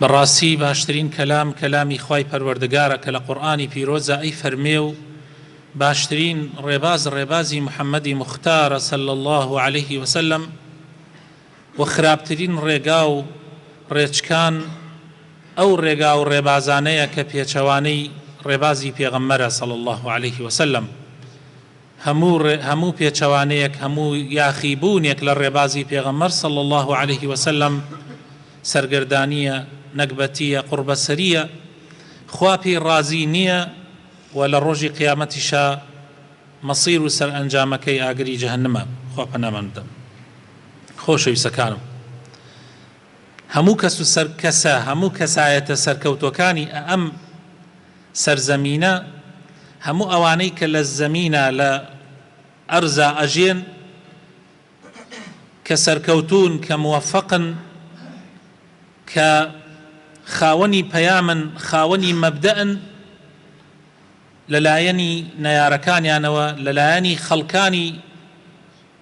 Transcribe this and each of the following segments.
بەڕاستی باشترین کەلام کەلامی خوای پەروەردگارە کە لە قورئانی پیرۆزە ئەی فەرمێ و باشترین ڕێباز ڕێبازی محمدی مختارە صلی اللە علیه وسلم و خراپترین ڕێگا و ڕێچکان ئەو ڕێگا و ڕێبازانەیە کە پێچەوانەی ڕێبازی پێغەمبەرە صلی اللە علیه وسلم هەموو ڕێ هەموو پێچەوانەیەک هەموو یاخی بوونێک لە ڕێبازی پێغەمبەر صلی اللە علیە وسلم سەرگەردانیە نەگبەتیە قوڕبەسەریە خوا پێی ڕازی نیە و لە ڕۆژی قیامەتیشا مەصیر و سەرئەنجامەکەی ئاگری جەهەنمە خوا پەنامان بدەن خۆشەویسەکانم هەموو کەس و سەر کەسە هەموو کەسایەتە سەرکەوتوەکانی ئەم سەرزەمینە، هەموو ئەوانەی کە لە زەمینە، لە ئەرزا ئەژێن، کە سەرکەوتوون، کە موەفەقن، کە خاوەنی پەیامن، خاوەنی مەبدەئن، لە لایەنی نەیارەکانیانەوە، لە لایەنی خەڵکانی،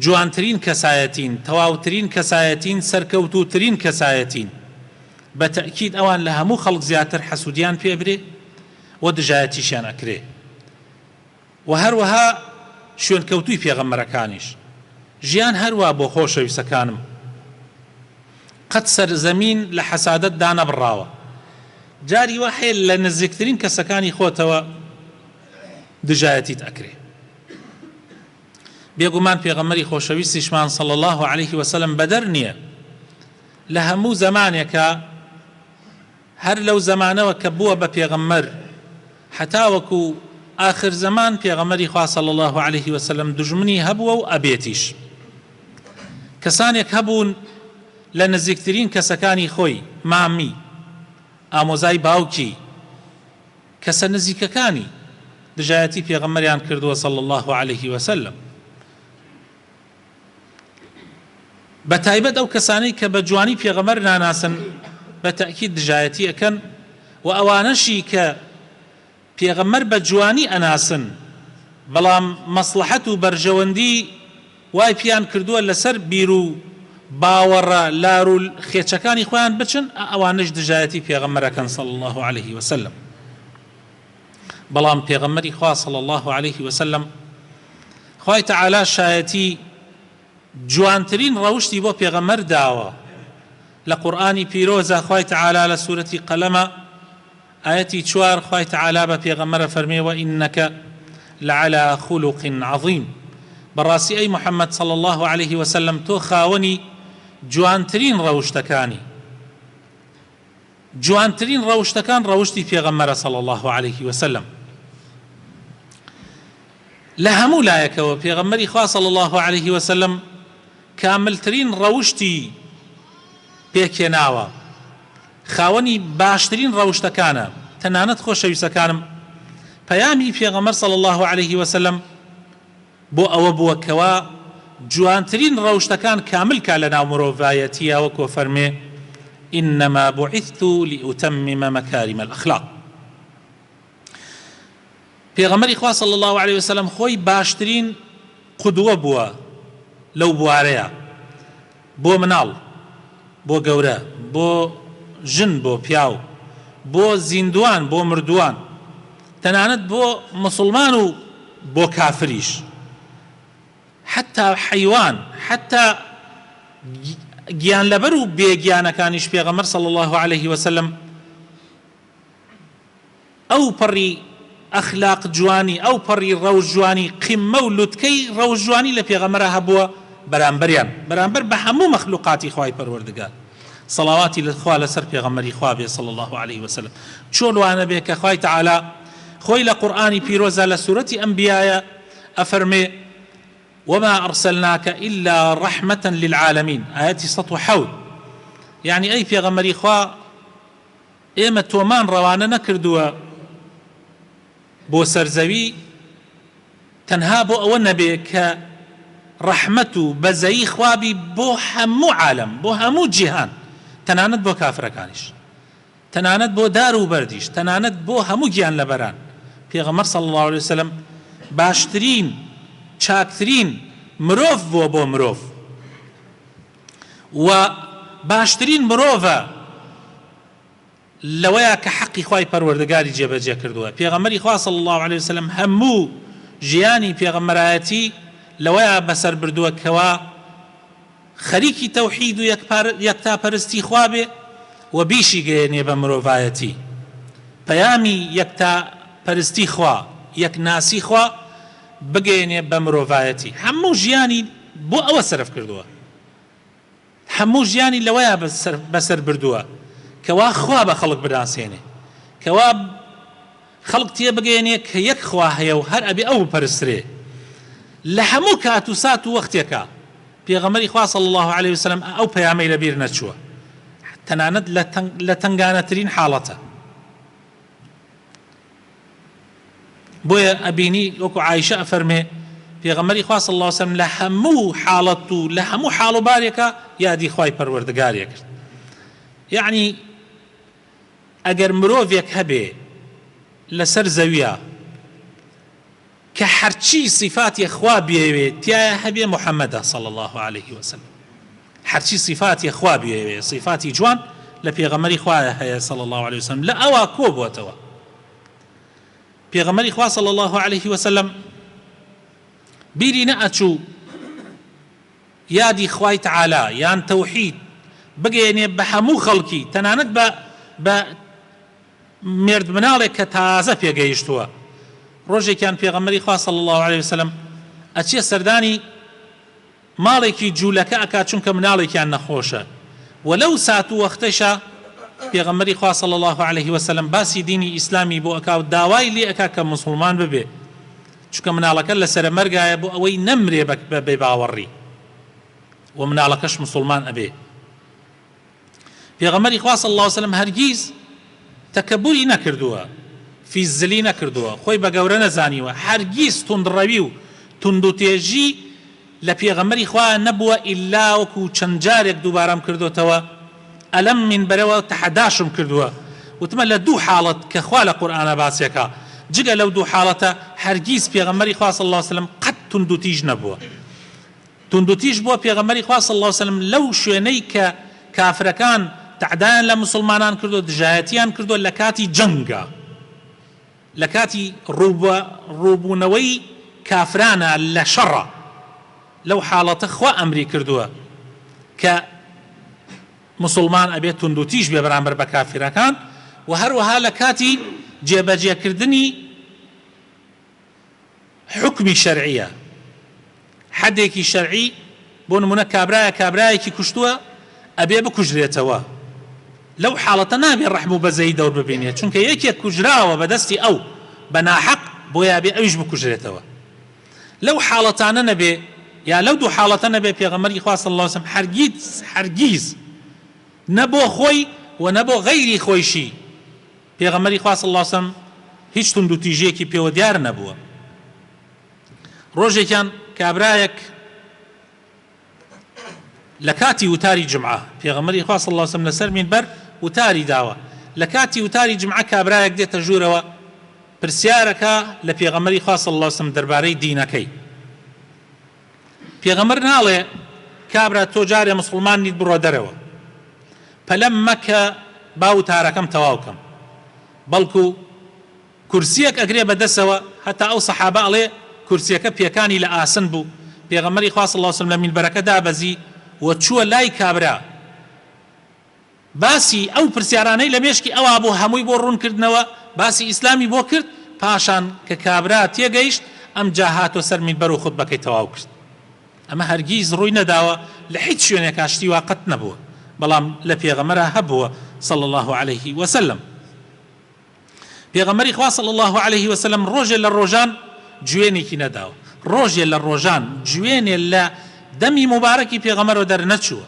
جوانترین کەسایەتین تەواوترین کەسایەتین سەرکەوتوترین کەسایەتین بە تەئکید ئەوان لە هەموو خەڵک زیاتر حەسودیان پێ ئەبرێ و دژایەتیشیان ئەکرێ و هەروەها شوێنکەوتوی پێغەمبەرەکانیش ژیان هەر وا بۆ خۆشەویستەکانم قەت سەر زەمین لە حەسادەت دانەبڕاوە جاری وا هەیە لە نزیکترین کەسەکانی خۆتەوە دژایەتیت ئەکرێ. بێگومان پێغەمبەری خۆشەویستیشمان صلی اللە علیه وسلم بەدەر نییە لە هەموو زەمانێکە هەر لەو زەمانەوە کە بووە بە پێغەمبەر حەتاوەکو آخر زمان پێغەمەری خوا صلی الله عليه وسلم دژمنی هەبووە و ئەبێتیش کەسانێک هەبوون لە نزیکترین کەسەکانی خۆی مامی ئامۆزای باوکی کەسە نزیکەکانی دژایەتی پێغەمبەریان کردووە صلی اللە علیە وسلم بەتایبەت ئەو کەسانەی کە بە جوانی پێغەمەر ناناسن بە تەکیید دژایەتی ئەەکەن و ئەوانەشی کە پێغەمەر بە جوانی ئەناسن بەڵام مەسلحەت و بەرژەوەندی وای پێیان کردووە لەسەر بیرو باوەڕە لارو خێچەکانی خۆیان بچن، ئەوانەش دژایەتی پێغەمبەر ئەکەن صلی اللە علیە وسلم، بەڵام پێغەمبەری خوا صلی اللە علیە وسلم خوای تەعالا شایەتی جوانترین ڕەوشتی بۆ پێغەمبەر داوە، لە قورئانی پیرۆزە خوای تەعالا لە سورەتی قەلەمە، ئایەتی چوار، خوای تەعالا بە پێغەمبەر ئەفەرمێ، وەئینەک لەعەلا خوڵوق عەظیم، بەڕاستی ئەی محمد صلی اللە علیە وسلم تۆ خاوەنی جوانترین ڕەوشتەکانی، جوانترین ڕەوشتەکان ڕەوشتی پێغەمبەرە صلی اللە علیە وسلم، لە هەموو لایەکەوە پێغەمبەری خوا صلی اللە علیە وسلم کاملترین ڕەوشتی پێکهێناوە، خاوەنی باشترین ڕەوشتەکانە تەنانەت خۆشەویستەکانم پەیامی پێغەمبەر صلی اللە علیه وسلم بۆ ئەوە بووە کەوا جوانترین ڕەوشتەکان کامل کا لەناو مرۆڤایەتیە وەکۆ فەرمێ انما بعثت لاتمم مکارم الاخلاق پێغەمبەری خوا صلی اللە علیە وسلم خۆی باشترین قدوە بووە لەو بوارەیە بۆ مناڵ بۆ گەورە بۆ ژن بۆ پیاو بۆ زیندوان بۆ مردوان تەنانەت بۆ مسوڵمان و بۆ کافریش حتا حەیوان حتا گیانلەبەر و بێگیانەکانیش پێغەمبەر صلی اللە علیە وسلم ئەوپەڕی ئەخلاق جوانی ئەوپەڕی ڕەوش جوانی قمە و لوتکەی ڕەوش جوانی لە پێغەمبەرا هەبووە بەرامبەریان بەرامبەر بە هەموو مەخلوقاتی خوای پەروەردگار سەڵاواتی خوا لەسەر پێغەمبەری خوا بێ صلی اللە علیە وسلم چۆن وانەبێ کە خوای تعالی خۆی لە قورئانی پیرۆزا لە سورەتی ئەنبیایا ئەفەرمێ وما ارسلناک الا رحمة للعالمین ئایەتی سەد و حەوت یەعنی ئەی پێغەمبەری خوا ئێمە تۆمان ڕەوانە نەکردووە بۆ سەر زەوی تەنها بۆ ئەوە نەبێ کە ڕەحمەت و بەزەیی خوا بی بۆ هەموو عالەم، بۆ هەموو جیهان، تەنانەت بۆ کافرەکانیش، تەنانەت بۆ دار و بەردیش، تەنانەت بۆ هەموو گیانلەبەران، پێغەمبەر صلی اللە علیە وسلم باشترین، چاکترین مرۆڤ بووە بۆ مرۆڤ. و باشترین مرۆڤە لەوەیە کە حەقی خوای پەروەردگاری جێبەجێ کردووە پێغەمبەری خوا صلی اللە علیە وسلم هەموو ژیانی پێغەمبەرایەتی لەوەیە بەسەر بردووە کەوا خەریکی تەوحید و یەکتا پەرستی خوا بێ و بیشی گەیەنێ بە مرۆڤایەتی پەیامی یەکتا پەرستی خوا یەکناسی خوا بگەیەنێ بە مرۆڤایەتی هەموو ژیانی بۆ ئەوە سەرف کردووە هەموو ژیانی لەوەیە بەسەر بردووە کەوا خوا بە خەڵک بناسێنێ کەوا خەڵک تێ بگەێنێ کە یەک خوا هەیە و هەر ئەبێ ئەو بپەرسرێ لە هەموو کات و سات و وەختێکە پێغەمەری خوا صلی الله عليه وسلم ئەو پەیامەی لە بیر نەچووە تەنانەت لە تەنگانەترین حاڵەتە بۆیە ئەبینی وەکو عائیشە ئەفەرمێ پێغەمبەری خوا صلی اللە وسلم لە هەموو حاڵەت و لە هەموو حاڵ و بارێکا یادی خوای پەروەردگاری ئەکرد یەعنی ئەگەر مرۆڤێک هەبێ لەسەر زەویا کە هەرچی سیفاتی خوا بیەوێ تیایا هەبێ محمدە صلی اللە علیە وسلم هەرچی سیفاتی خوا بیەوێ سیفاتی جوان لە پێغەمەری خوایە هەیە صلی اللە علیە وسلم لە ئەوا کۆ بۆتەوە پێغەمەری خوا صلی اللە علیه وسلم بیری نەئەچوو یادی خوای تعالی یان تەوحید بگەێنێ بە هەموو خەڵکی تەنانەت بە بە مێردمناڵێک کە تازە پێگەیشتووە ڕۆژێکیان پێغەمبەری خوا صلی اللە علیە وسلم ئەچێ سەردانی ماڵێکی جوولەکە ئەکات چونکە مناڵێکیان نەخۆشە و لەو سات و وەختەشە پێغەمبەری خوا صلی اللە علیه وسلم باسی دینی ئیسلامی بۆ ئەکا و داوای لێ ئەکا کە موسڵمان ببێ چونکە مناڵەکە لە سەرە مەرگایە بۆ ئەوەی نەمرێ بە بێباوەڕی و مناڵەکەش موسڵمان ئەبێ پێغەمبەری خوا صلی اللە وسلم هەرگیز تەکەبوری نەکردووە فیززلی نەکردووە خۆی بە گەورە نەزانیوە هەرگیز توندڕەوی و توندوتێژی لە پێغەمبەری خوا نەبووە ئیلا وەکو چەند جارێک دووبارەم کردۆتەوە ئەلەم مینبەرەوە تەحەداشم کردووە وتمە لە دوو حاڵەت کە خوا لە قورئانا باسیەکا جگە لەو دوو حاڵەتە هەرگیز پێغەمبەری خوا صلی اللە وسلم قەت توندوتیژ نەبووە توندوتیژ بووە پێغەمبەری خوا صلی اللە وسلم لەو شوێنەی کە کافرەکان تەعدایان لە موسڵمانان کردووە دژایەتیان کردووە لەکاتی جەنگا لەکاتی ڕووبە ڕووبوونەوەی کافرانا لە شەڕا لەو حاڵەتە خوا ئەمری کردووە کە موسڵمان ئەبێت توندوتیژ بێ بەرامبەر بە کافرەکان وە هەروەها لەکاتی جێبەجێکردنی حوکمی شەرعییە، حەدێکی شەرعی، بۆ نموونە کابرایە کابرایەکی کوشتووە ئەبێ بکوژرێتەوە، لەو حاڵەتە نابێ ڕەحم و بەزەیی دەور ببینێ، چونکە یەکێک کوژراوە بە دەستی ئەو بە ناحەق، بۆیە ئەبێ ئەویش بکوژرێتەوە. لەو حاڵەتانە نەبێ، یا لەو دوو حاڵەتە نەبێ، پێغەمبەری خوا صلی اللە علیه و سلم هەرگیز هەرگیز نە بۆ خۆی و نە بۆ غەیری خۆیشی، پێغەمبەری خوا صلی اللە وسلم هیچ توندوتیژیەکی پێوە دیار نەبووە ڕۆژێکیان کابرایەک لە کاتی وتاری جمعە پێغەمبەری خوا صلی اللە وسلم لەسەر مینبەر وتاری داوە لە کاتی وتاری جمعە کابرایەک دێتە ژوورەوە پرسیارەکە لە پێغەمبەری خوا صلی اللە وسلم دەربارەی دینەکەی پێغەمبەر ناڵێ کابرا تۆ جارێ مسوڵمان نیت بڕۆ دەرەوە پەلەم مەکە با وتارەکەم تەواو کەم بەڵکو کورسیەک ئەگرێ بە دەسەوە هەتا ئەو سەحابە ئەڵێ کورسیەکە پێکانی لە ئاسن بوو پێغەمبەری خوا صلی اللە علیە وسلم لە مینبەرەکە دابەزی و چووە لای کابرا باسی ئەو پرسیارانەی لە مێشکی ئەوا بوو هەمووی بۆ ڕوون کردنەوە، باسی ئیسلامی بۆ کرد، پاشان کە کابرا تێگەیشت ئەمجا هاتوە سەر مینبەر و خوتبەکەی تەواو کرد. ئەمە هەرگیز ڕووی نەداوە لە هیچ شوێنێکا شتی وا قەت نەبووە بەڵام لە پێغەمبەرا هەبووە، صلی اللە علیه وسلم. پێغەمبەری خوا صلی اللە علیە وسلم ڕۆژێ لە ڕۆژان جوێنێکی نەداوە، ڕۆژێ لە ڕۆژان جوێنێ لە دەمی موبارەکی پێغەمبەرەوە دەرنەچووە،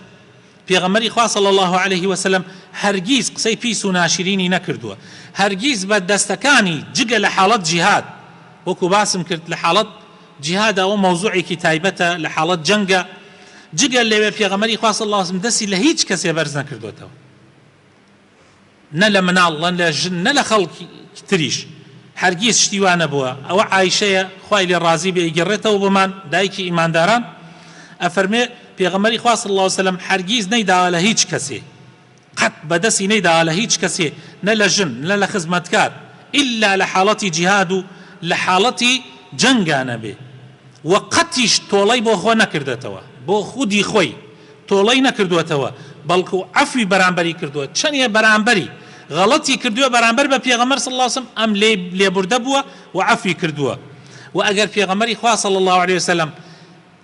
پێغەمبەری خوا صلی اللە علیە وسلم هەرگیز قسەی پیس و ناشرینی نەکردووە، هەرگیز بە دەستەکانی جگە لە حاڵەت جیهاد، وەکو باسم کرد لە حاڵەت جیهاد ئەوە مەوزوعێکی تایبەتە لە حاڵەت جەنگە، جگە لەوێ پێغەمبەری خوا صلی اللە علیە وسلم دەستی لە هیچ کەسێ بەرز نەکردۆتەوە. نە لە مناڵ نە لە ژن نە لە خەڵکی تریش هەرگیز شتی وا نەبووە، ئەوە عائیشەیە خوای لێ ڕازی بێ ئەیگەڕێتەوە بۆمان دایکی ئیمانداران ئەفەرموێ، پێغەمبەری خوا صلی اللە و سلم هەرگیز نەیداوە لە هیچ کەسێ قەت بە دەستی نەیداوە لە هیچ کەسێ نە لە ژن نە لە خزمەتکار ئیلا لە حاڵەتی جیهاد و لە حاڵەتی جەنگا نەبێ و قەتیش تۆڵەی بۆ خۆ نەکردەتەوە بۆ خودی خۆی، تۆڵەی نەکردووەتەوە بەڵکو عەفوی بەرامبەری کردووە چەنێ بەرامبەری غەڵەتی کردووە بەرامبەر بە پێغەمبەر صلی اللە علیە وسلم ئەم لێی لێبوردە بووە و عەفوی کردووە وە ئەگەر پێغەمبەری خوا صلی اللە علیە وسلم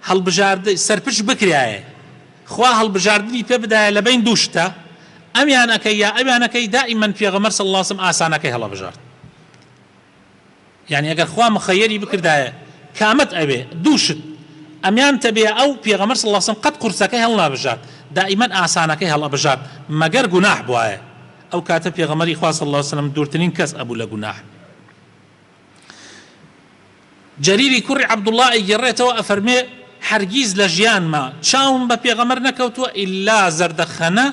هەڵبژارد سەرپچ بکرایە خوا هەڵبژاردنی پێ بدایە لە بەین دوو شتە ئەمیانەکەی یا ئەویانەکەی دائیمەن پێغەمبەر صلی اللە علیە وسلم ئاسانەکەی هەڵەبژارد یانی ئەگەر خوا مخەیەری بکردایە کامەت ئەوێ دوو شت ئەمیانت ئەبێ ئەو پێغەمبەر صلی اللە علیە وسلم قەت قورسەکەی هەڵنابژارد دائیمەن ئاسانەکەی هەڵئەبژارد مەگەر گوناح بوایە ئەو کاتە پێغەمبەری خوا صلی اللە علیە وسلم دوورترین کەس ئەبوو لە گوناح. جەریری کوڕی عەبدوڵڵا ئەیگێڕێتەوە ئەفەرمێ هەرگیز لە ژیانما چاوم بە پێغەمبەر نەکەوتووە ئیلا زەردەخەنە،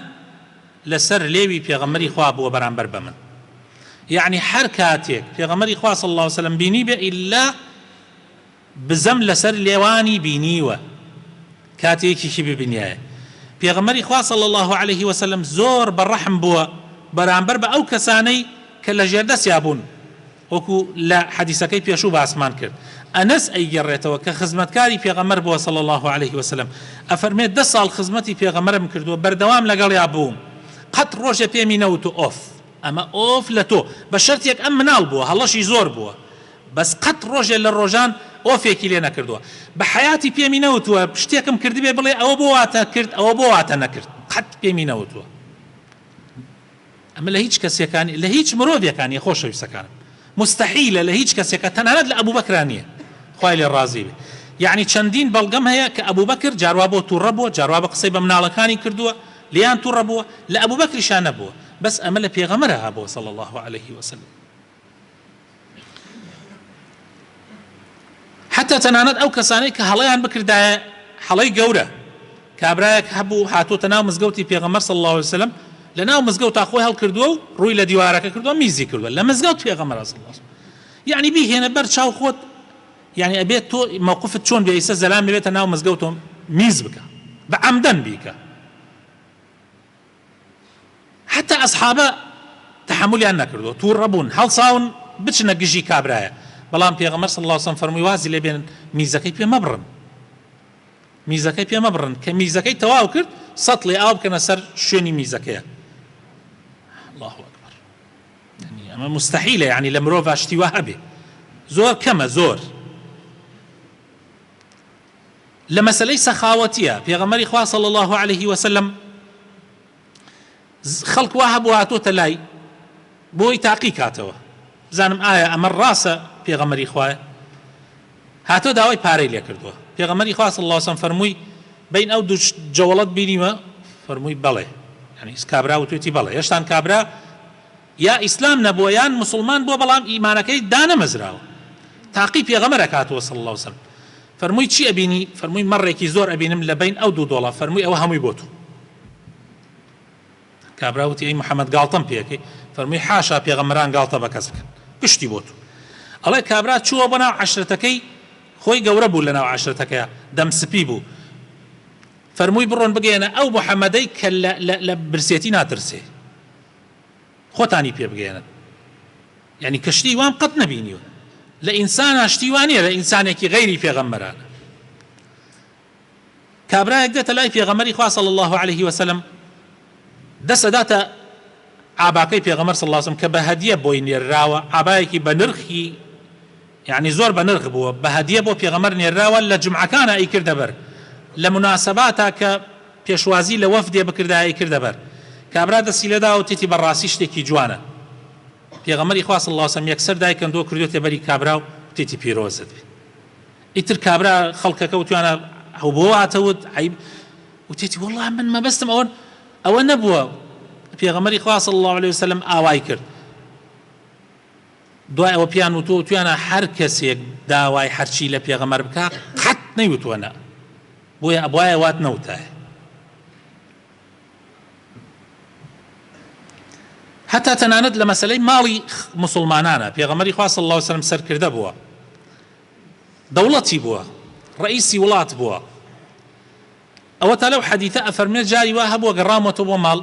لەسەر لێوی پێغەمبەری خوا بووە بەرامبەر بە من یەعنی هەر کاتێک پێغەمبەری خوا صلی اللە وسلم بینیبێ ئیلا بزەم لەسەر لێوانی بینیوە کاتی یەکێکی ببینیایە پێغەمبەری خوا صلی اللە علیه وسلم زۆر بە ڕەحم بووە بەرامبەر بە ئەو کەسانەی کە لە ژێردەسیا بوون وەکو لە حەدیسەکەی پێشوو باسمان کرد، ئەنەس ئەیگێڕێتەوە کە خزمەتکاری پێغەمبەر بووە صلی اللە علیە وسلم، ئەفەرمێت، دە ساڵ خزمەتی پێغەمبەرم کردووە بەردەوام لەگەڵیا بووم قەت ڕۆژێ پێمی نەوتوە ئۆف ئەمە ئۆف لە تۆ، بە شەرتێک ئەم مناڵ بووە هەڵەشی زۆر بووە بەس قەت ڕۆژێ لە ڕۆژان ئۆفێکی لێ نەکردووە بە حەیاتی پێمی نەوتوە شتێکم کردبێ بڵێ ئەوە بۆ واتە کرد ئەوە بۆ واتە نەکرد قەت پێمی نەوتوە. ئەمە لە هیچ کەسێکا نیە، لە هیچ مرۆڤێکا نیە خۆشەویستەکانم، موستەحیلە لە هیچ کەسێکا تەنانەت لە ئەبوبەکرا نیە خوای لێ ڕازی بێ، یەعنی چەندین بەڵگەم هەیە کە ئەبوبەکر جاروا بۆ توڕە بووە جاروا بە قسەی بە مناڵەکانی کردووە لێیان توڕە بووە، لە ئەبوبەکریشا نەبووە، بەس ئەمە لە پێغەمبەرا هەبووە صلی اللە علیە وسلم. حتا تەنانەت ئەو کەسانەی کە هەڵەیان بکردایە هەڵەی گەورە کابرایەک هەبوو هاتووتە ناو مزگەوتی پێغەمبەر صلی الله علیه وسلم لە ناو مزگەوتا خۆی هەڵکردووە و ڕووی لە دیوارەکە کردووە میزی کردووە لە مزگەوت پێغەمبەر صلی الله علیه وسلم یعنی بیهێنە بەر چاو خۆت یعنی ئەبێت تۆ موقفت چۆن بێ ئیسە زەلام بێتە ناو مزگەوتۆم میز بکە بە عەمدەن بیکە حەتا ئەسحابە تەحەمولیان نەکردوە توڕە بوون هەڵساون بچنە گژی کابرایە بەڵام پێغەمبەر صلی اللە علیە و سلم فەرمووی وازی لێ بێنن میزەکەی پێ مەبڕن میزەکەی پێ مەبڕن کە میزەکەی تەواو کرد سەتڵی ئاو بکەنە سەر شوێنی میزەکەیە الله اکبر يعني اما مستحيله يعني لە مرۆڤ شتی وا هەبێ زۆر کەمە زۆر لە مەسەلەی سەخاوەتیە پێغەمبەری خوا صلی اللە علیە وسلم خەڵک وا هەبوو هاتۆتە لای بۆی تاقی کاتەوە بزانم ئایا ئەمە ڕاستە پێغەمبەری خوایە هاتۆ داوای پارەی لێ کردووە پێغەمبەری خوا صلی اللە وسلم فەرمووی بین ئەو دوو جەوڵەت بینیوە فەرمووی بەڵێ یعنی کابرا وتوێتی بەڵێ هێشتان کابرا یا ئیسلام نەبووە یان موسڵمان بووە بەڵام ئیمانەکەی دانەمەزراوە تاقی پێغەمبەر ئەکاتەوە صلی اللە وسلم فەرمووی چی ئەبینی فەرمووی مەڕێکی زۆر ئەبینم لەبەین ئەو دوو دۆڵە فەرمووی ئەوە هەمووی بۆ تۆ کابرا وتی ئەی محمد گاڵتەم پێکەی فەرمووی حاشا پێغەمبەران گاڵتە بە کەس بکەن پشتی بۆ تۆ ئەڵێ کابرا چووە بۆ ناو عەشرەتەکەی خۆی گەورە بوو لەناو عەشرەتەکەیە دەم سپی بوو فەرمووی بڕۆن بگەیەنە ئەو محەممەدەی کە لە برسێتی ناترسێ خۆتانی پێ بگەیەنن یانی کە شتی وام قەت نەبینیوە لە ئینسانا شتی وانە لە ئینسانێکی غەیری پێغەمبەرانە کابراەک دێتە لای پێغەمەری خوا صلی الله عليه وسلم دەسەداتە ئاباکەی پێغەمەر سلاسم کە بە هەدیە بۆی نێرراوە ئابایەکی بە نرخی یەعنی زۆر بە نرخ بووە بە هەدیە بۆ پێغەمبەر نێرراوە لە جومعەکانا ئەیکردە بەر لە موناسەباتا کە پێشوازی لە وەفدێ بکردایە ئەیکردە بەر کابرا دەستی لێ دا وتیتی بە ڕاستی شتێکی جوانە پێغەمبەری خوا صلی اللە علیە و سلم یەکسەر دای کەندووە کردوێتە بەری کابرا و وتیتی پیرۆزت بێ ئیتر کابرا خەڵکەکە وتویانە ئەو بۆ هاتەوت عیب وتیتی والله من مەبەستم ئەوە ئەوە نەبووە پێغەمبەری خوا صلی اللە علیە و سلم ئاوای کرد دوای ئەوە پێیان وتویانە هەر کەسێک داوای هەرچی لە پێغەمبەر بکا قەت نەیوتوە نە بۆیە ئەبوایە وات نەوتایە هەتا تەنانەت لە مەسلەی ماڵی مسلمانانە پێغەمەری خوا صلی الله عليه وسلم سەرکردە بووە دەوڵەتی بووە ڕئیسی وڵات بووە ئەوەتا لەو حەدیثە ئەفەرموێ جاری وا هەبووە گەڕامەوەتەوە بۆ ماڵ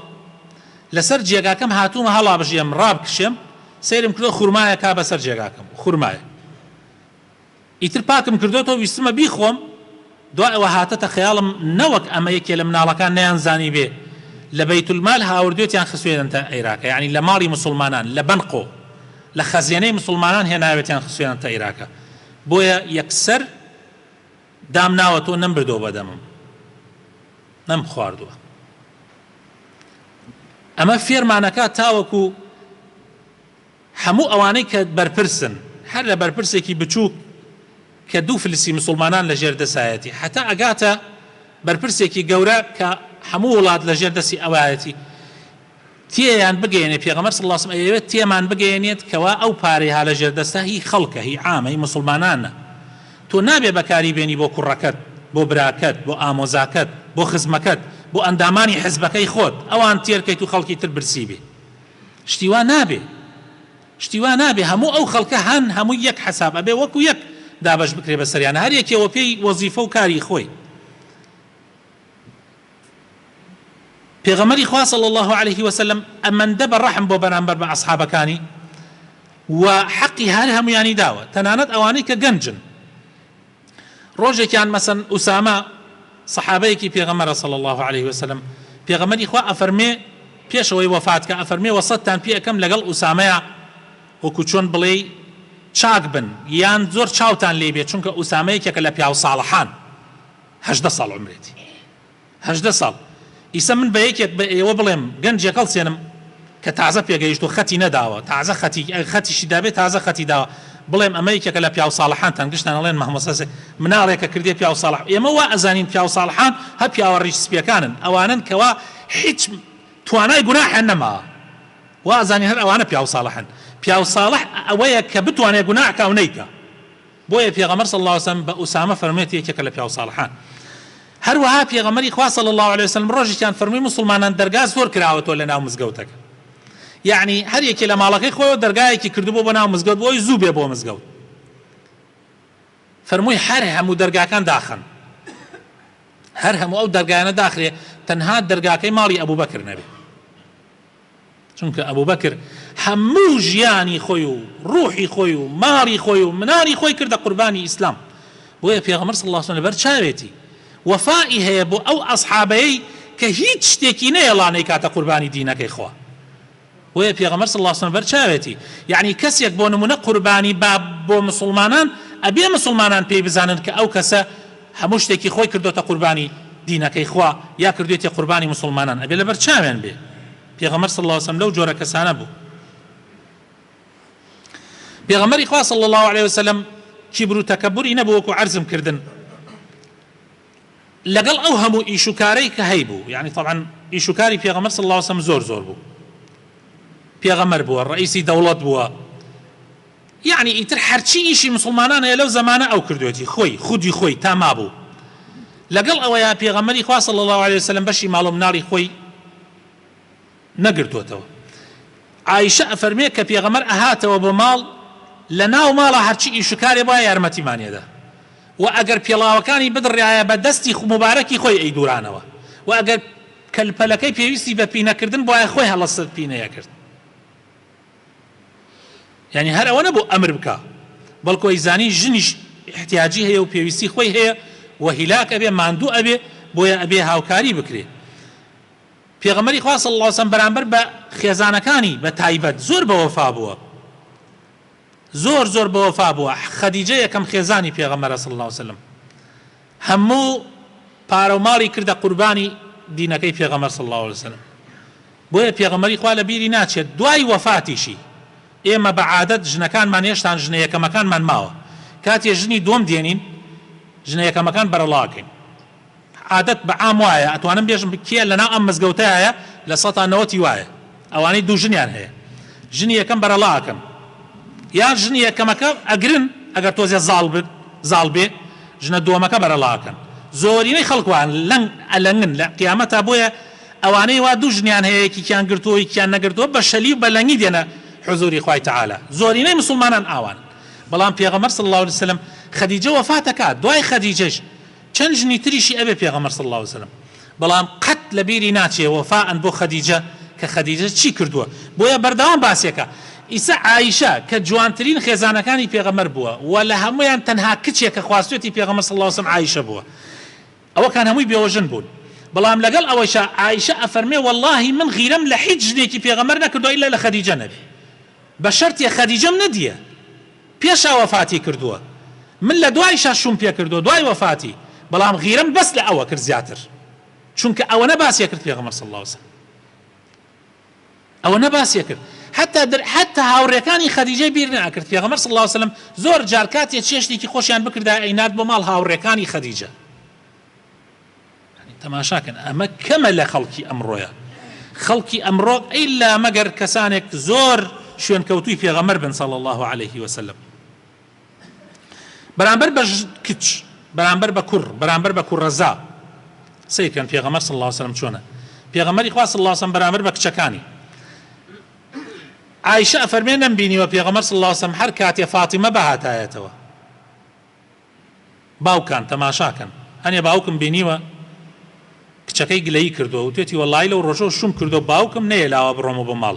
لەسەر جێگاکەم هاتوومە هەڵابژێم ڕابکشێم سەیرم کردوە خورمایەکا بەسەر جێگاکەم خورمایە ئیتر پاکم کردۆتەوە ویستمە بیخۆم دوای ئەوە هاتەتە خەیاڵم نەوەک ئەمە یەکێ لە مناڵەکان نەیان زانیبێ لە بەیت المال هاوردوێتیان خسوێننتە عێراکە یعنی لە ماڵی مسوڵمانان لە بنقۆ لە خەزێنەی مسوڵمانان هێناوێتیان خسوێننتە عێراکە بۆیە یەکسەر دام ناوە تۆ نەمبردوە بەدەمم نەم خواردوە ئەمە فێرمانەکە تاوەکو هەموو ئەوانەی کە بەرپرسن هەر لە بەرپرسێکی بچووک کە دوو فلسی مسلمانان لە ژێر دەسایەتی حتا ئەگاتە بەرپرسێکی گەورە کە هەموو وڵات لە ژێر دەستی ئەوایەتی تێیان بگەیەنێت پێغەمبەر صلی اللە علیە و سلم ئەیەوێت تێمان بگەیەنێت کەوا ئەو پارەی ها لەژێردەستە هی خەڵکە هی عامە هی موسڵمانانە تۆ نابێت بەکاری بێنی بۆ کوڕەکەت بۆ براکەت بۆ ئامۆزاکەت بۆ خزمەکەت بۆ ئەندامانی حزبەکەی خۆت ئەوان تێرکەیت و خەڵکی تر برسی بێ شتی وا نابێ شتی وا نابێ هەموو ئەو خەڵکە هەن هەمووی یەک حساب ئەبێ وەکو یەک دابەش بکرێ بەسەریانە هەر یەکێوە پێی وەزیفە و کاری خۆی پێغەمبەری خوا صلی اللە علیە وسلم ئەمەندە بە ڕەحم بۆ بەرامبەر بە ئەسحابەکانی و حەقی هەر هەمویانی داوە تەنانەت ئەوانەی کە گەنجن ڕۆژێکیان مەسەن ئوسامە صحابەیەکی پێغەمبەر صلی اللە علیه وسلم پێغەمبەری خوا ئەفەرمێ پێشەوەی وەفات کە ئەفەرمێ وەسەتتان پێ ئەەکەم لەگەڵ ئوسامەیە وەکو چۆن بڵێی چاک بن یان زۆر چاوتان لێ بێ چونکە ئوسامەیەکێکە لە پیاو ساڵحان هەژدە ساڵ عومرێتی هەژدە ساڵ ئیسە من بە یەکێک بە ئێوە بڵێم گەنجێک هەڵسێنم کە تازە پێگەیشتوە خەتی نەداوە تازە خەتی ئەگەر خەتیشی دابێ تازە خەتی داوە بڵێم ئەمە یەکێکە لە پیاو ساڵحانتان گشتان ئەڵێن مەهمەسەس مناڵێکە کردێ پیاو ساڵح ئێمە وا ئەزانین پیاو ساڵحان هە پیاوە ڕیش سپیەکانن ئەوانن کەوا هیچ توانای گوناحیان نەماوە وازانی هەر ئەوانە پیاو ساڵحن پیاو ساڵح ئەوەیە کە بتوانێت گوناحکە و نەیکە بۆیە پێغەمبەر صلی اللە علیە وسلم بە ئوسامە فەرموێت یەکێکە لە پیاو ساڵحان هەروەها پێغەمبەری خوا صلی اللە علیە وسلم ڕۆژێکیان فەرمووی موسڵمانان دەرگا زۆر کراوەتەوە لە ناو مزگەوتەکە یەعنی هەر یەکێ لە ماڵەکەی خۆیەوە دەرگایەکی کردبوو بۆ ناو مزگەوت بۆی زوو بێ بۆ مزگەوت فەرمووی هەر هەموو دەرگاکان داخن هەر هەموو ئەو دەرگایانە داخرێ تەنها دەرگاکەی ماڵی ئەبوبەکر نەبێ چونکە ئەبوبەکر هەموو ژیانی خۆی و ڕوحی خۆی و ماڵی خۆی و مناڵی خۆی کردە قوربانی ئیسلام بۆیە پێغەمبەر صلی اللە علیە وسلم لەبەر چاوێتی وەفای هەیە بۆ ئەو ئەسحابەی کە هیچ شتێکی نەیەڵا نەیکاتە قوربانی دینەکەی خوا بۆیە پێغەمبەر صلی اللە علیە وسلم بەر چاوێتی یعنی کەسێک بۆ نمونە قوربانی باب بۆ مسلمانان ئەبێ مسلمانان پێی بزانن کە ئەو کەسە هەموو شتێکی خۆی کردۆتە قوربانی دینەکەی خوا یا کردوێتیە قوربانی موسڵمانان ئەبێ لەبەر چاویان بێ پێغەمبەر صلی اللە علیە وسلم لەو جۆرە کەسانە بوو پێغەمبەری خوا صلی اللە علیە وسلم کیبر و تەکەبوری نەبوو وەکو عەرزم کردن لەگەڵ ئەو هەموو ئیش و کارەی کە هەی بوو یعنی طبعا ئیش و کاری پێغەمبەر صلی اللە علیە وسلم زۆر زۆر بوو پێغەمبەر بووە ڕئیسی دەوڵەت بووە یەعنی ئیتر هەرچی ئیشی موسڵمانان هەیە لەو زەمانە ئەو کردویەتی خۆی خودی خۆی تا مابوو لەگەڵ ئەوەیا پێغەمبەری خوا صلی اللە علیە وسلم بەشی ماڵ و مناڵی خۆی نەگرتوەتەوە عائشە ئەفەرمێ کە پێغەمبەر ئەهاتەوە بۆ ماڵ لە ناو ماڵە هەرچی ئیش و کارێ بوایە یارمەتیمانیەدا و ئەگەر پێڵاوەکانی بدڕایە بە دەستی موبارەکی خۆی ئەی دورانەوە و ئەگەر کەلپەلەکەی پێویستی بە پینەکردن بوایە خۆی هەڵەسەت پینەیەکرد یانی هەر ئەوە نەبوو ئەمر بکا بەڵکو ئەیزانی ژنیش ئیحتیاجی هەیە و پێویستی خۆی هەیە و هیلاک ئەبێ ماندوو ئەبێ بۆیە ئەبێ هاوکاری بکرێ پێغەمبەری خوا صلی اللە وسلم بەرامبەر بە خێزانەکانی بە تایبەت زۆر بەوەفا بووە زۆر زۆر بەوەفا بووە خەدیجە یەکەم خێزانی پێغەمبەر صلی اللە وسلم هەموو پارەو ماڵی کردە قوربانی دینەکەی پێغەمبەر صلی اللە علیە وسلم بۆیە پێغەمبەری خوا لە بیری ناچێت دوای وەفاتیشی ئێمە بە عادەت ژنەکانمان هێشتان ژنە یەکەمەکانمان ماوە کاتێ ژنی دووەم دێنین ژنە یەکەمەکان بەرەڵاکەین عادەت بە عام وایە ئەتوانم بێژم کێ لەناو ئەم مزگەوتایە لە سەتا نەوەتی وایە ئەوانەی دوو ژنیان هەیە ژنی یەکەم بەرەڵا ئەکەن یان ژنی یەکەمەکە ئەگرن ئەگەر تۆزێ زاڵ بن زاڵ بێ ژنە دووەمەکە بەرەڵا ئەکەن زۆرینەی خەڵک وان لەنگ ئەلەنگن لە قیامەتا بۆیە ئەوانەی وا دوو ژنیان هەیە یەکیکیان گرتووە یەکیان نەگرتووە بە شەلی و بە لەنگی دێنە حوزووری خوای تەعالا زۆرینەی مسوڵمانان ئاوان بەڵام پێغەمبەر صلی اللە علیە وسلم خەدیجە وەفات ئەکات دوای خەدیجەش چەند ژنی تریشی ئەبێ پێغەمبەر صلی اللە علیە وسلم بەڵام قەت لەبیری ناچێ وەفاء بۆ خەدیجە کە خەدیجە چی کردووە بۆیە بەردەوام باسیەکا ئیسە عائیشە کە جوانترین خێزانەکانی پێغەمبەر بووە وە لە هەموویان تەنها کچێ کە خواستوێتی پێغەمبەر صلی اللە علیە وسلم عائیشە بووە ئەوەکان هەمووی بێوەژن بوون بەڵام لەگەڵ ئەوەیشا عائیشە ئەفەرمێ وەڵاهی من غیرەم لە هیچ ژنێکی پێغەمبەر نەکردووە ئیلا لە خەدیجە نەبێ بە شەرتێ خەدیجەم نەدیە پێشا وەفاتی کردووە من لە دوایشا شووم پێ کردووە دوای وەفاتی بەڵام غیرەم بەس لە ئەوە کرد زیاتر چونکە ئەوەنە باسی کرد پێغەمبەر صلی اللە علیە وسلم ئەوەنە باسی کرد حتا در حتا هاوڕێکانی خەدیجەی بیر ناکرد پێغەمبەر صلی اللە علیە وسلم زۆر جار کاتێ چێشتێکی خۆشیان بکردایە ئەینارد بۆ ماڵ هاوڕێکانی خەدیجە تەماشاکەن ئەمە کەمە لە خەڵکی ئەمڕۆیە خەڵکی ئەمڕۆ ئیلا مەگەر کەسانێک زۆر شوێنکەوتوی پێغەمەر بن صلی الله عليه وسلم بەرامبەر بە کچ بەرامبەر بە کوڕ بەرامبەر بە کوڕەزا سیرکەن پێغەمەر صلی الله عليه وسلم چۆنە پێغەمەری خوا صلی الله عليه وسلم بەرامبەر بە کچەکانی عائشە فەرمێ نەمبینیوە پێغەمەر صلی الله عليه وسلم هەر کاتێ فاطمە بەهاتایەتەوە باوکان تەماشاکەن هەنێ باوکم بینیوە کچەکەی گلەیی کردوە وتێتی وەڵایی لەو ڕۆژەو شوم کردوە باوکم نەیەلاوە بڕۆمە بۆ ماڵ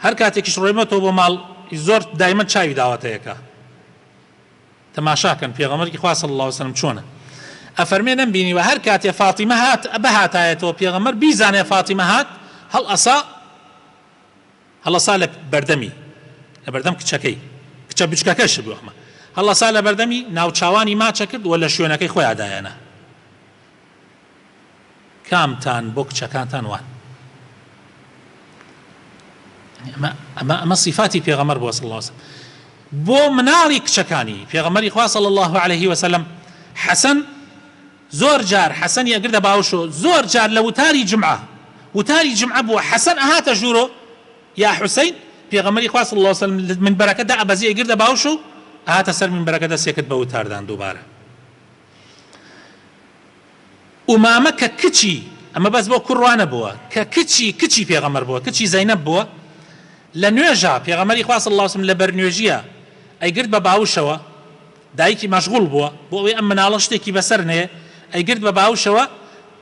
هەر کاتێکیش ڕۆیمەتەوە بۆ ماڵ ی زۆر دایمەن چاوی داوەتە یەکە تەماشاکەن پێغەمبەری خوا صلی اللە علیە وسلم چۆنە ئەفەرمێ نەم بینیوە هەر کاتێ فاتیمە هات بهاتایەتەوە پێغەمبەر بیزانێ فاتیمە هات هەڵ ئەسا هەڵەسا لە بەردەمی، لە بەردەم کچەکەی، کچە بچکەکەش بوو ئەمە، هەڵەسا لە بەردەمی، ناوچاوانی ماچە کرد و لە شوێنەکەی خۆیا دایانە. کامتان بۆ کچەکانتان وان؟ ئەمە ئەمە صفاتی پێغەمبەر بووە صلی الله علیه وسلم بۆ مناڵی کچەکانی پێغەمبەری خوا صلی الله علیه وسلم حەسەن زۆر جار حەسەنی ئەگردە باوشۆ زۆر جار لە وتاری جمعە وتاری جمعە بووە حەسەن ئەهاتە ژوورۆ یا حوسەین پێغەمبەری خوا صلی اللە علیە وسلم لە منبەرەکە دائەبەزی ئەیگردە باوشۆ و ئەهاتە سەر منبەرەکە دەسێکرد بە وتاردان دووبارە ئومامە کە کچی ئەمە بەس بۆ کوڕ وا نەبووە کە کچی کچی پێغەمبەر بووە کچی زەینەب بووە لە نوێژا پێغەمبەری خوا صلی اللە علیە وسلم لەبەر نوێژیە ئەیگرد بە باوشەوە دایکی مەشغوڵ بووە بۆ ئەوەی ئەم مناڵە شتێکی بەسەر نەیە ئەیگرت بە باوشەوە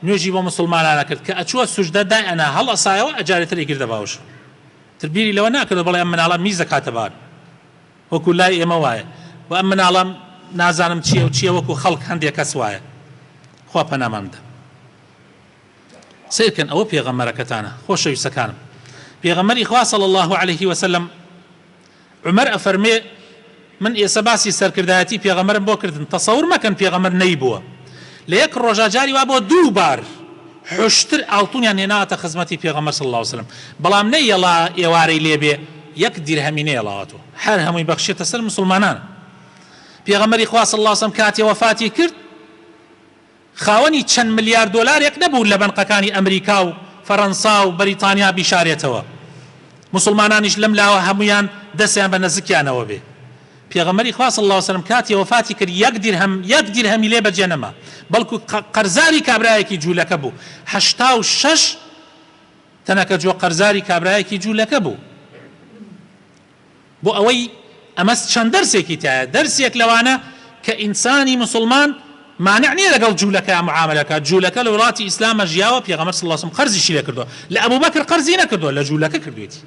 نوێژی بۆ موسڵمانان ئەکرد کە ئەچووە سوژدە دای ئەنا هەڵ ئەسایەوە ئەجارێ تر ئەیگردە باوشەوە تر بیری لەوە ناکردەوە بڵێ ئەم مناڵە میز ئەکاتە بار وەکو لای ئێمە وایە و ئەم مناڵە نازانم چیە و چیە وەکو خەڵک هەندێ کەس وایە خوا پەنامان بدە سەیر کەن ئەوە پێغەمبەرەکەتانە خۆشەویستەکانم پێغەمبەری خوا صلی اللە علیه وسلم عومەر ئەفەرمێ، من ئێسە باسی سەرکردایەتی پێغەمبەرم بۆ کردن، تەسەور مەکەن پێغەمبەر نەیبووە لە یەک ڕۆژا جاری وا بووە دوو بار حوشتر ئاڵتونیان هێناوەتە خزمەتی پێغەمبەر صلی اللە علیە وسلم بەڵام نەیەڵا ئێوارەی لێ بێ یەک دیرهەمی نەیەڵاوەتوە هەر هەمووی بەخشێتە سەر موسڵمانان پێغەمبەری خوا صلی اللە علیە وسلم کاتێ وەفاتی کرد خاوەنی چەند ملیار دۆلارێک نەبوو لە بەنقەکانی ئەمریکا و فەرەنسا و بەریتانیا بیشارێتەوە موسڵمانانیش لەم لاوە هەموویان دەسیان بە نەزکیانەوە بێ پێغەمبەری خوا صلی اللە وسلم کاتی وەفاتی کرد یەک دیرهەم یەک دیرهەمی لێ بەجێ نەما بەڵکو قەرزاری کابرایەکی جوولەکە بوو هەشتا و شەش تەنەکە جۆ قەرزاری کابرایەکی جوولەکە بوو بۆ ئەوەی ئەمە چەند دەرسێکی تایە، دەرسێک لەوانە کە ئینسانی موسڵمان مانع نیە لەگەڵ جولەکە معاملە بکات، جولەکە لە وڵاتی ئیسلامە ژیاوە، پێغەمبەر صلی اللە علیە و سلم قەرزیشی لێ کردوە، لە ابو بکر قەرزی نەکردوە لە جولەکە کردوێتی.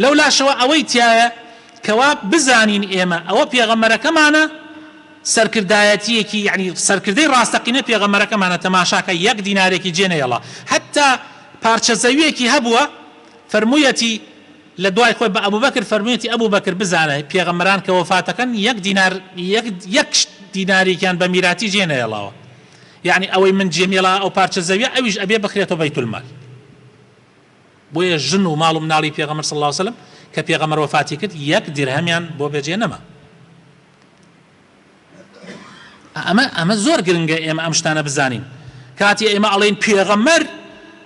لەولاشەوە ئەوەی تیایە کەوا بزانین ئێمە ئەوە پێغەمبەرەکەمانە سەرکردایەتیەکی یەعنی سەرکردەی ڕاستەقینەی پێغەمبەرەکەمانە تەماشاکە یەک دینارێکی جێ نەهێڵا حەتا پارچە زەویەکی هەبوە فەرمویەتی لە دوای خۆی بە ئەبوبەکر فەرموویەتی، ئەبو بەکر بزانە، پێغەمبەران کە وەفات ئەکەن یەک دینار، یەک دیناریکیان بە میراتی جێ نەهێڵاوە، یەعنی ئەوەی من جێم هێڵا ئەو پارچە زەویە ئەویش ئەبێ بخرێتە بەیتولمال. بۆیە ژن و ماڵ و مناڵی پێغەمبەر صلی اللە علیە وسلم کە پێغەمبەر وەفاتی کرد یەک دیرهەمیان بۆ بەجێ نەما. ئەمە ئەمە زۆر گرنگە ئێمە ئەم شتانە بزانین کاتی ئێمە ئەڵێن پێغەمەر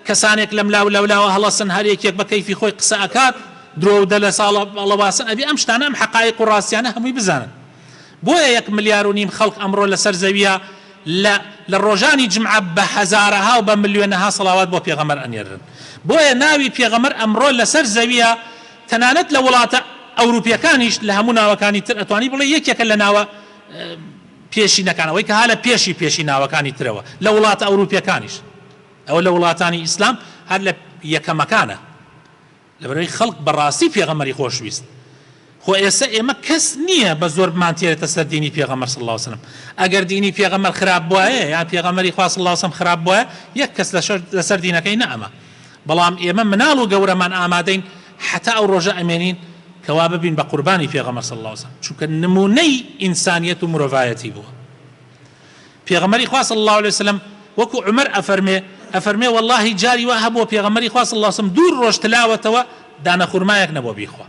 کەسانێک لەم لاو لەولاوە هەڵەسن هەر یەکێک بە کەیفی خۆی قسە ئەکات درۆ و دەلە ساڵە بەڵەواسن ئەبی ئەم شتانە ئەم حقایق و ڕاستیانە هەمووی بزانن بۆیە یەک ملیار و نیم خەڵک ئەمڕۆ لەسەر زەویە لە لە ڕۆژانی جمعە بە هەزارەها و بە ملیۆنەها سەڵاوات بۆ پێغەمەر ئەنێرن بۆیە ناوی پێغەمەر ئەمڕۆ لەسەر زەویە تەنانەت لە وڵاتە ئەوروپیەکانیش لە هەموو ناوەکانی تر ئەتوانی بڵێی یەکێکە لە ناوە پێشینەکان ئەوەی کە ها لە پێشی پێشی ناوەکانی ترەوە لە وڵاتە ئەوروپیەکانیش ئەوە لە وڵاتانی ئیسلام هەر لە یەکەمەکانە لەبەرەوەی خەڵک بەڕاستی پێغەمەری خۆشویست خۆ ئێستا ئێمە کەس نییە بە زۆر بمانتێرێتە سەر دینی پێغەمەر صلی الله عليه وسلم ئەگەر دینی پێغەمەر خراپ بواە یا پێغەمەری خوا صلی الله عليه وسلم خراپ بواە یەک کەس لەسەر دینەکەی نەما بەڵام ئێمە مناڵ و گەورەمان ئامادەین حەتا ئەو ڕۆژە ئەمێنین کەوا ببین بە قوربانی پێغەمبەر صلی اللە علیە وسلم چونکە نمونەی ئینسانیەت و مرۆڤایەتی بووە پێغەمبەری خوا صلی اللە علیە وسلم وەکو عومەر ئەفەرمێ ئەفەرمێ وەڵاهی جاری وا هەبووە پێغەمبەری خوا صلی اللە علیە وسلم دوو ڕۆژ تلاوەتەوە دانە خورمایەک نەبووە بیخوا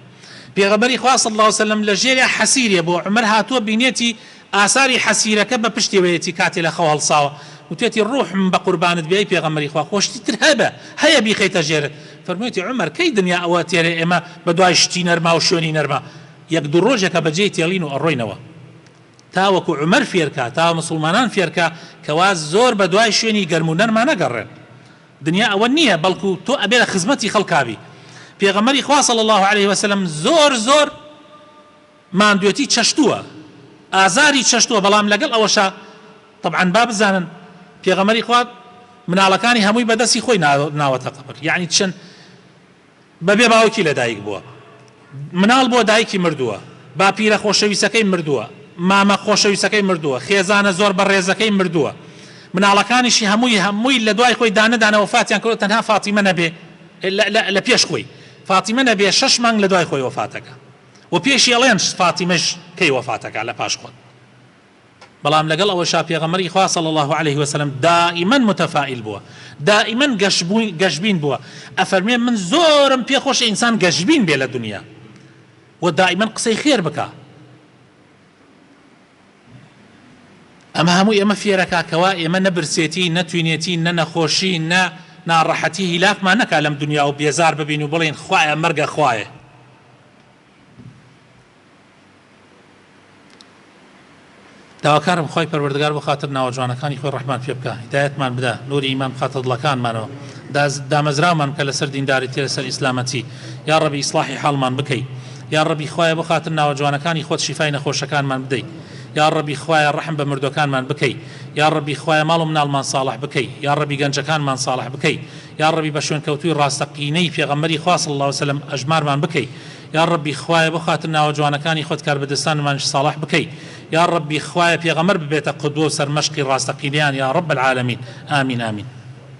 پێغەمبەری خوا صلی اللە علیە وسلم لە ژێرێ حەسیرێ بووە عومەر هاتووە بینێتی ئاساری حەسیرەکە بە پشتیوەیەتی کاتێ لە خەو هەڵساوە وتوێتی ڕوحم بە قوربانت بێ ئەی پێغەمبەری خوا خۆ شتی تر هەبە هەیە بیخەیتە ژێرت فەرموویەتی عومەر کەی دنیا ئەوە تێرێ ئێمە بە دوای شتی نەرما و شوێنی نەرما یەک دوو ڕۆژێکە بە جێی تێڵین و ئەڕۆینەوە تاوەکو عومەر فێر کا تا مسوڵمانان فێر کا کەوا زۆر بە دوای شوێنی گەرم و نەرما نەگەڕێن دنیا ئەوە نییە بەڵکو تۆ ئەبێ لە خزمەتی خەڵکا بی پێغەمبەری خوا صلی اللە علیە وسلم زۆر زۆر ماندوێتی چەشتووە ئازاری چەشتووە بەڵام لەگەڵ ئەوەشا تەبعەن با بزانن پێغەمبەری خوا مناڵەکانی هەمووی بەدەستی خۆی ناوەتە قەبر یەعنی چەن بەبێ باوکی لەدایک بووە مناڵ بۆ دایکی مردووە باپیرە خۆشەویستەکەی مردووە مامە خۆشەویستەکەی مردووە خێزانە زۆر بەڕێزەکەی مردووە مناڵەکانیشی هەمووی هەمووی لە دوای خۆی دانەدانە وەفاتیان کرد تەنها فاتیمە نەبێ لە پێش خۆی فاتیمە نەبێ شەش مانگ لە دوای خۆی وەفاتەکە وە پێشی ئەڵێن فاتیمەش کەی وەفاتەکا لە پاش خۆت بەڵام لەگەڵ ئەوەشا پێغەمبەری خوا صلی اللە علیە وسلم دائیمەن متەفائیل بووە دائیمەن گەشبین بووە ئەفەرمێ من زۆرم پێ خۆشە ئینسان گەشبین بێ لە دنیا وە دائیمەن قسەی خێر بکە ئەمە هەموو ئێمە فێرەکا کەوا ئێمە نە برسێتی نە توینێتی نە نەخۆشی نە ناڕەحەتی هیلاکمان نەکا لەم دنیا و بێزار ببین و بڵین خوایە مەرگە خوایە داواکارم خوای پەروەردگار بۆ خاتر ناوە جوانەکانی خۆی ڕەحمان پێ بکا هیدایەتمان بدا نوری ئیمان بخاتە دڵەکانمانەوە دامەزراومان بکە لەسەر دینداریتی لەسەر ئیسلامەتی یاڕەبی ئیسڵاحی حاڵمان بکەی یاڕەبی خوایە بۆ خاتر ناوە جوانەکانی خۆت شیفای نەخۆشەکانمان بدەی یاڕەبی خوایە ڕەحم بە مردوەکانمان بکەی یاڕەبی خوایە ماڵ و مناڵمان ساڵح بکەی یاڕەبی گەنجەکانمان ساڵح بکەی یاڕەبی بە شوێنکەوتووی ڕاستەقینەی پێغەمبەری خوا صلی اللە علیە وسلم ئەژمارمان بکەی یاڕەبی خوایە بۆ خاتر ناوە جوانەکانی خۆت کاربەدەستانمانیش ساڵح بکەی یاڕەبی خوایە پێغەمبەر ببێتە قودوە و سەرمەشقی ڕاستەقینەیان یاڕەب العالمین ئامین ئامین.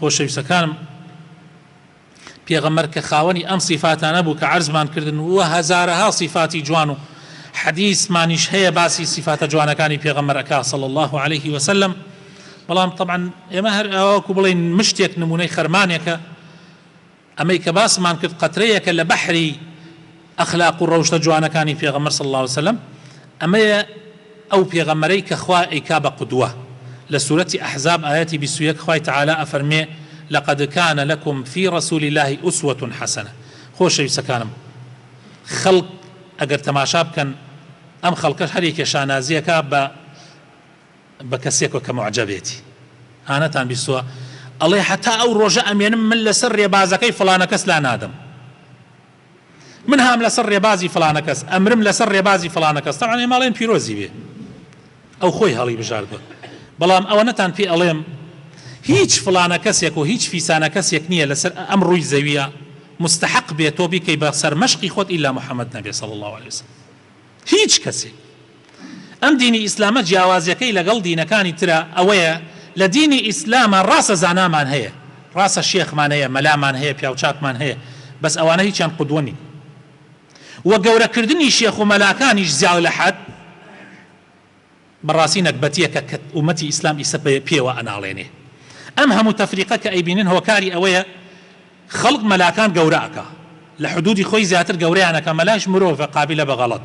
خۆشەویستەکانم پێغەمبەر کە خاوەنی ئەم سیفاتانە بوو کە عەرزمان کردن و هەزارەها سیفاتی جوان و حەدیسمانیش هەیە باسی سیفاتە جوانەکانی پێغەمبەر ئەکا صلی اللە علیه وسلم بەڵام طبعا ئێمە هەر ئاوا وەکو بڵێین مشتێک نمونەی خەرمانێکە ئەمەی کە باسمان کرد قەترەیەکە لە بەحری ئەخلاق و ڕەوشتە جوانەکانی پێغەمبەر صلی اللە علیە وسلم، ئەمەیە ئەو پێغەمبەرەی کە خوا ئەیکا بە قودوە، لە سورەتی احزاب ئایەتی بیست و یەک خوای تەعالا ئەفەرموێ، لقد کان لکم فی رسول اللە اسوە حسنە، خۆشەویستەکانم خەڵک ئەگەر تەماشا بکەن ئەم خەڵکەش هەر یەکێ شانازیەکا بە، بە کەسێکۆ کە موعجەبێتی ها نەتان بیستوە ئەڵێ هەتا ئەو ڕۆژە ئەمێنم من لەسەر ڕێبازەکەی فڵانە کەس لا نادەم من هام لەسەر ڕێبازی فڵانە کەس ئەمرم لەسەر ڕێبازی فڵانە کەس تاوان ئێماڵێن پیرۆزی بێ ئەو خۆی هەڵی بژاردوە بەڵام ئەوە نەتان پێ ئەڵێم هیچ فڵانە کەسێک و هیچ فیسانە کەسێک نییە لەسەر ئەم ڕووی زەویە مستحق بێت تۆ بیکەی بە سەرمەشقی خۆت ئیلا محەممەد نەبێ سەڵ الله عليه وسلم هیچ کەسێک ئەم دینی ئیسلامە جیاوازیەکەی لەگەڵ دینەکانی ترە ئەوەیە لە دینی ئیسلامە ڕاستە زانامان هەیە ڕاستە شێخمان هەیە مەلامان هەیە پیاوچاکمان هەیە بەس ئەوانە هیچیان قودوە نین وە گەورەکردنی شێخ و مەلاکانیش زیاو لە حەد بەڕاستی نەگبەتیەکە کە ئومەتی ئیسلام ئیسە پێوە ئەناڵێنێ ئەم هەموو تەفریقە کە ئەیبینن هۆکاری ئەوەیە خەڵک مەلاکان گەورە ئەکا لە حدودی خۆی زیاتر گەورەیان ئەکا مەلایش مرۆڤە قابیلە بە غەڵەت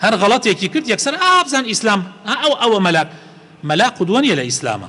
هەر غەڵەتێکی کرد یەکسەر ئا بزان ئیسلام ئا ئەو ئەوە مەلا مەلا قودوە نیە لە ئیسلامە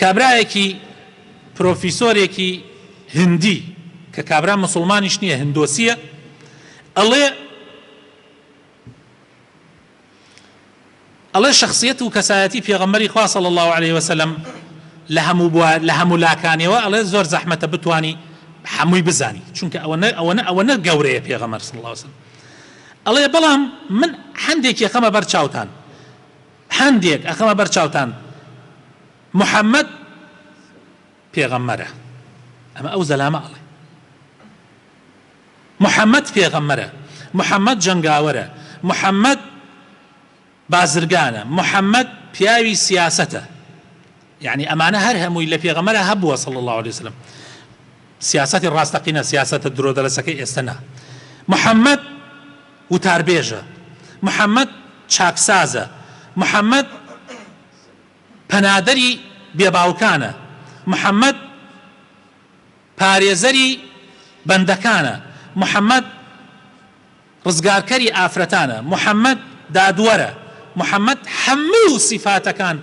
کابرایەکی پرۆفیسۆرێکی هندی کە کابرا مسلمانیش نییە هندۆسیە ئەڵێ ئەڵێ شخصیت و کەسایەتی پێغەمبەری خوا صلی الله عليه وسلم لە هەموو بووە لە هەموو لاکانەوە ئەڵێ زۆر زەحمەتە بتانی هەمووی بزانی چونکە ئەوە نە ئەوە نە ئەوە نە گەورەیە پێغەمبەر صلی الله عليه وسلم ئەڵێ بەڵام من هەندێک یەکەمە بەر چاوتان هەندێک ئەخەمە بەر چاوتان محمد پێغەمبەرە ئەمە ئەو زەلامە ئەڵێ محمد پێغەمبەرە محمد جەنگاوەرە محمد بازرگانە محمد پیاوی سیاسەتە یەعنی ئەمانە هەر هەمووی لە پێغەمبەرا هەبووە صلی اللە علیە وسلم سیاسەتی ڕاستەقینە سیاسەتە درۆ دەلەسەکەی ئێستە نا محمد وتاربێژە محمد چاکسازە محمد پەنادەری بێباوکانە محمد پارێزەری بەندەکانە محمد ڕزگارکەری ئافرەتانە محمد دادوەرە محمد هەموو سیفاتەکان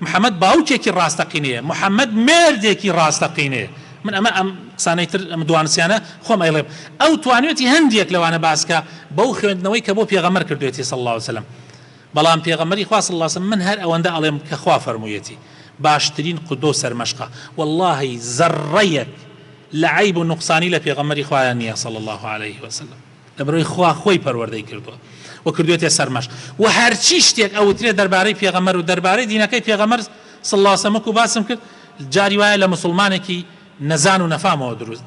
محمد باوکێکی ڕاستەقینەیە محمد مێردێکی ڕاستەقینەیە من ئەمە ئەم قسانەی تر ئەم دوانسیانە خۆم ئەیڵێم ئەو توانوێتی هەندێک لەوانە باسکا بەو خوێندنەوەی کە بۆ پێغەمبەر کردوێتی صلی اللە علیە وسلم بەڵام پێغەمبەری خوا صلی اللە علیە وسلم من هەر ئەوەندە ئەڵێم کە خوا فەرموویەتی باشترین قودوە و سەرمەشقە وەڵاهی زەڕڕەیەک لە عەیب و نوقسانی لە پێغەمبەری خوایە نیە صلی اللە علیە وسلم. لەبەرئەوەی خوا خۆی پەروەردەی کردووە و کردوێتێ سەر مەشق وە هەرچی شتێک ئەوترێت دەربارەی پێغەمبەر و دەربارەی دینەکەی پێغەمبەر صلی اللە وسلم وەکو باسم کرد جاری وایە لە مسلمانێکی نەزان و نەفامەوە دروست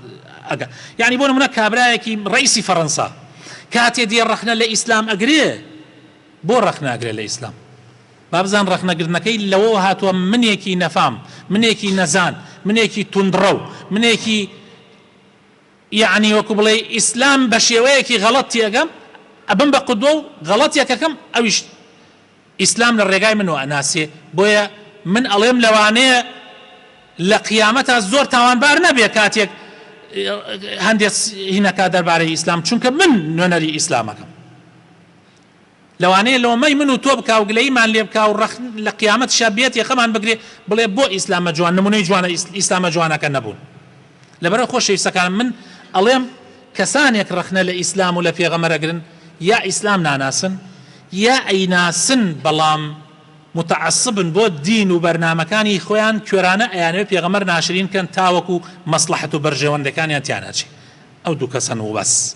ئەگا یعنی بۆ نمونە کابرایەکی ڕئیسی فەرەنسا کاتێ دێ ڕەخنە لە ئیسلام ئەگرێ بۆ ڕەخناگرێ لە ئیسلام بابزان ڕەخنەگرتنەکەی لەوەوە هاتووە منێکی نەفام منێکی نەزان منێکی توندڕەو منێکی یەعنی وەکو بڵێی ئیسلام بەشێوەیەکی غەڵەت تێئەگەم ئەبم بە قودوە و غەڵەت یەکەکەم ئەویش ئیسلام لە ڕێگای من وائەناسێ بۆیە من ئەڵێم لەوانەیە لە قیامەتا زۆر تاوانبار نەبێ کاتێک هەندێ هینەکا دەربارەی ئیسلام چونکە من نوێنەری ئیسلامەکەم لەوانەیە لۆمەی من و تۆ بکا و گلەیمان لێ بکا و ڕەخ لە قیامەتشا بێت یەخەمان بگرێ بڵێ بۆ ئیسلامە جوان نمونەی جوانە ئیسلامە جوانەکە نەبوون لەبەرئەوە خۆشەویستەکانم من ئەڵێم کەسانێک ڕەخنە لە ئیسلام و لە پێغەمبەر ئەگرن یا ئیسلام ناناسن یا ئەیناسن بەڵام متعصبن بۆ دین و بەرنامەکانی خۆیان کوێرانە ئەیانەوێ پێغەمبەر ناشرین کەن تاوەکو مەسڵەحەت و بەرژەوەندەکانیان تیاناچێ ئەو دوو کەسەن وبەس.